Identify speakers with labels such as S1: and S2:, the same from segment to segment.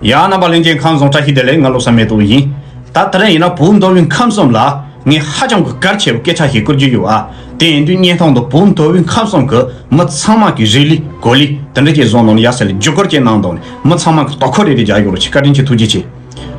S1: ཡང་རྣམ་པ་གླིང་ཆེན་ཁམས་རྫོང་བཀྲ་ཤིས་བདེ་ལེགས་ང་ལོ་བསམ་མེད་དུ་ཡིན། ད་ད་རེས་ཡིན་ན་བུ་མདོ་དབུས་ཁམས་གསུམ་ལ་ངས་ཧ་ཅང་གི་གར་ཆེ་བའི་སྐད་ཆ་ཞིག་བསྐུར་རྒྱུ་ཡོད་ཨ། དེ་ཡིན་དུས་བརྙན་ཐུང་དུ་བུ་མདོ་དབུས་ཁམས་གསུམ་གི་མི་ཚང་མ་གི་རི་ལི་གོ་ལི་དེ་འདྲ་ཅིག་བཟོ་གནང་ནས་ཡ་ས་ལས་བརྒྱུད་སྐོར་ཅིག་གནང་དོགས་ནས་མི་ཚང་མ་གི་དོ་ཁུར་རེ་རེ་རྒྱག་ཡོག་རེ་ཆེ་བཀའ་དྲིན་ཆེ་ཐུགས་རྗེ་ཆེ།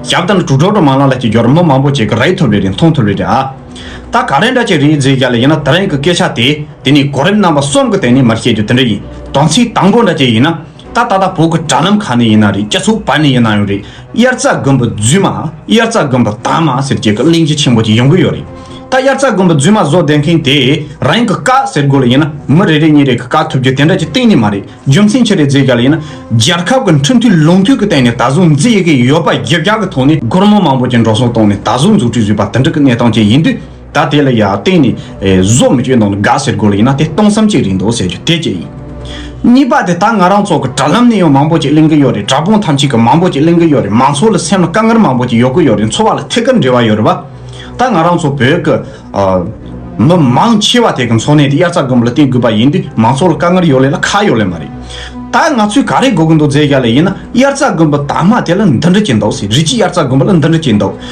S1: ཞབས་ཏན་དྲུག་འགྲོ་དྲུག་མ་ལ་ལ་ཅིག་འགྱོར་མི་མང་པོ་ཅིག་གི་རེ་ཐུབ་རེ་རེ་མཐོང་ཐུབ་རེ་རེ་ཨ། ད་ག་རེ་འདྲ་ཅིག་རེད་ཟེར་ཡ་ལ་ཡིན་ན་ད་རེས་གི་སྐད་ཆ་དེ་དེ་ནས་གོ་རིམ་རྣམ་པ་གསུམ་གི་སྟེང་ནས་མར་བཤད་རྒྱུ་དེ་འདྲ་ཡིན་དོན་ཚིག་དང་པོ་འདྲ་ཅིག་ཡིན་ན། ད་ལྟ་ད་བོད་ཀྱི་དྲ་ལམ་གང་ནས་ཡིན་ན་རེད་སྐྱ་ཚུགས་བར་ནས་ཡིན་ན་ཡང་རེད་དབྱར་རྩྭ་དགུན་འབུ་རྫུན་མ་དབྱར་རྩྭ་དགུན་འབུ་དྭངས་མ་ཟེར་རྒྱལ་ཁབ་གླིང་རྗེ་ཆེན་པོ་གྱི་ཡོང་གི་ཡོད་རེད་ད་དབྱར་རྩྭ་དགུན་འབུ་རྫུན་མ་བཟོ་བསྡད་མཁན་དེས་རང་གི་བཀག་ཟེར་དགོས་ལ་ཡིན་ན་མི་རེ་རེ་གཉིས་རེ་གི་བཀག་ཐུབ་རྒྱུ་དེ་འདྲ་གྱི་གཏན་ནས་མ་རེད་རྒྱུ་མཚན་ཆེ་རེ་མཛད་རྒྱ་ལ་ཡིན་ན་རྒྱལ་ཁབ་ཀྱི་འཕྲིན་ཐུང་ལུང་ཐུང་གི་སྟེང་ནས་ད་གཟུགས་མཛེས་ཡི་གེ་ཡོད་པ་བརྒྱད་བརྒྱ་གི་ཐོག་ནས་སྒོར་མོ་མང་པོ་ཀྱི་འགྲོ་སོང་བཏང་ནས་ད་གཟུགས་འཛུགས་སྐྲུན་བཟོས་པ་དེ་འདྲ་གི་གནས་སྟངས་ཅན་ཡིན་དུས། ད་དེ་ལ་ཡང་གཏན་ནས་བཟོ་མི་བྱོས་ནང་ལ་དགའ་ཟེར་དགོས་ལ་ཡིན་ན་དེ་སྟོང་བསམ་གཅིག་རེད་འདུག་ཟེར་རྒྱུ་དེ་གཅིག་ཡིན། གཉིས་པ་དེ་ད་ང་རང་ཚོ་གི་དྲ་ལམ་ནས་ཡང་མང་པོ་ཅིག་གླེང་གི་ཡོད་རེད་དྲ་དཔུང་ཐམས་ཅད་ཀྱི་མང་པོ་ཅིག་གླེང་གི་ཡོད་རེད་མང་ཚོགས་ལ་སེམས་ལ་དཀའ་ངལ་མང་པོ་ཅིག་ཡོད་ཀི་ཡོད་རེད་འཚོ་བ་ལ་ཐད་ཀར་འབྲེལ་བ་ཡོད་རེད་བ། ད་ང་རང་ཚོ་བོད་ཀྱི་མི་མང་ཆེ་བ་དེ་གི་འཚོ་གནས་དེ་དབྱར་རྩྭ་དགུན་འབུ་ལ་བརྟེན་དགོས་པ་ཡིན་དུས་མང་ཚོགས་ལ་དཀའ་ངལ་ཡོད་ལེ་ལ་ཁ་ཡོད་ལེ་མ་རེད། ད་ང་ཚོས་ག་རེ་དགོས་ཀྱི་འདུག་རྫས་བཞག་ལེ་ཡིན་ན་དབྱར་རྩྭ་དགུན་འབུ་དར་མ་དེ་ལ་འདི་འདྲ་གྱི་འདུག་ཟེར་རིགས་གཅིག་དབྱར་རྩྭ་དགུན་འབུ་ལ་འདི་འདྲ་གྱི་འདུག་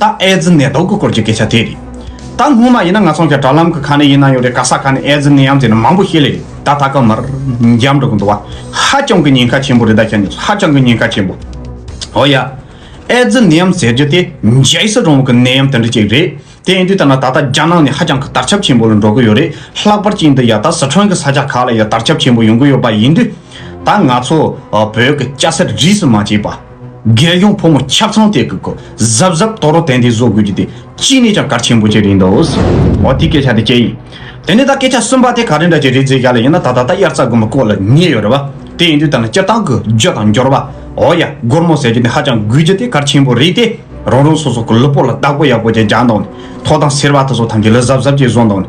S1: ད་ཨེ་ཛི་ནད་དུག་གི་སྐོར་གྱི་སྐད་ཆ་དེ་རེད། ད་སྔོན་མ་ཡིན་ན་ང་ཚོ་འགའ་དྲ་ལམ་གི་ཁ་ནས་ཡིན་ན་ཡང་རེད་ག་ས་ག་ནས་ཨེ་ཛི་ནད་ཡམས་ཟེར་ན་མང་པོ་ཤེས་ལེ་རེད་ད་ད་སྐབས་མར་འཇམ་འགྲོ་གི་འདུག་བ། ཧ་ཅང་གི་ཉེན་ཁ་ཆེན་པོ་རེད་ད་ཁྱེད་གཉིས་ཧ་ཅང་གི་ཉེན་ཁ་ཆེན་པོ། འོ་ཡ། ཨེ་ཛི་ནད་ཡམས་ཟེར་རྒྱུ་དེ་རྒྱལ་སྲིད་རིང་ལུགས་ཀྱི་ནད་ཡམས་དེ་འདྲ་ཅིག་རེད། དེ་ཡིན་དུས་ད་ནང་ད་ལྟ་རྒྱ་ནག་ནི་ཧ་ཅང་གི་དར་ཁྱབ་ཆེན་པོ་ལ་འགྲོ་གི་ཡོད་རེད། ལྷག་པར་གཅིག་འདི་ཡ་ད་ཟི་ཁྲོན་གྱི་ས་ཆ་ཁག་ལ་ཡ་དར་ཁྱབ་ཆེན་པོ་ཡོང་གི་ཡོད་པ་ཡིན་དུས། ད་ང་ཚོ་བོད་ཀྱི་སྐྱ་སེར་རིས་སུ་མ་ཆད་པ། རྒྱལ་སྐྱོང་ཕོ་མོ་ཁྱབ་ཚང་དེ་གི་གོ་གཟབ་གཟབ་དོག་རོ་དན་དེ་བཟོ་དགོས་རྒྱུ་དེ་ཅི་ནས་ཀྱང་གར་ཆེན་པོ་ཅིག་རེད་འདོད། འོ་དེ་སྐད་ཆ་དེ་ཅི་ཡིན། དེ་ནས་ད་སྐད་ཆ་གསུམ་པ་དེ་ག་རེ་འདྲ་ཅི་རེད་ཟེར་ཡ་ལ་ཡིན་ན་ད་ད་ལྟ་དབྱར་རྩྭ་དགུན་འབུ་བརྐོ་ལ་ཉེ་ཡོད་རེད་བ། དེ་ཡིན་དུས་ད་ནི་སྤྱིར་བཏང་གི་རྒྱུ་དང་འབྱོར་བ། འོ་ཡ་སྒོར་མོ་ཟེར་རྒྱུ་དེ་ཧ་ཅང་དགོས་རྒྱུ་དེ་གར་ཆེན་པོ་རེད་དེ། རང་རང་སོ་སོ་གི་ལུས་པོ་ལ་བདག་པོ་ཡག་པོ་ཅིག་རྒྱག་འདོད་ནས་ཐོག་དང་སེར་བ་དེ་ཚོ་ཐམས་ཅད་ལུས་གཟབ་གཟབ་ཅིག་བཟོ་འདོད་ནས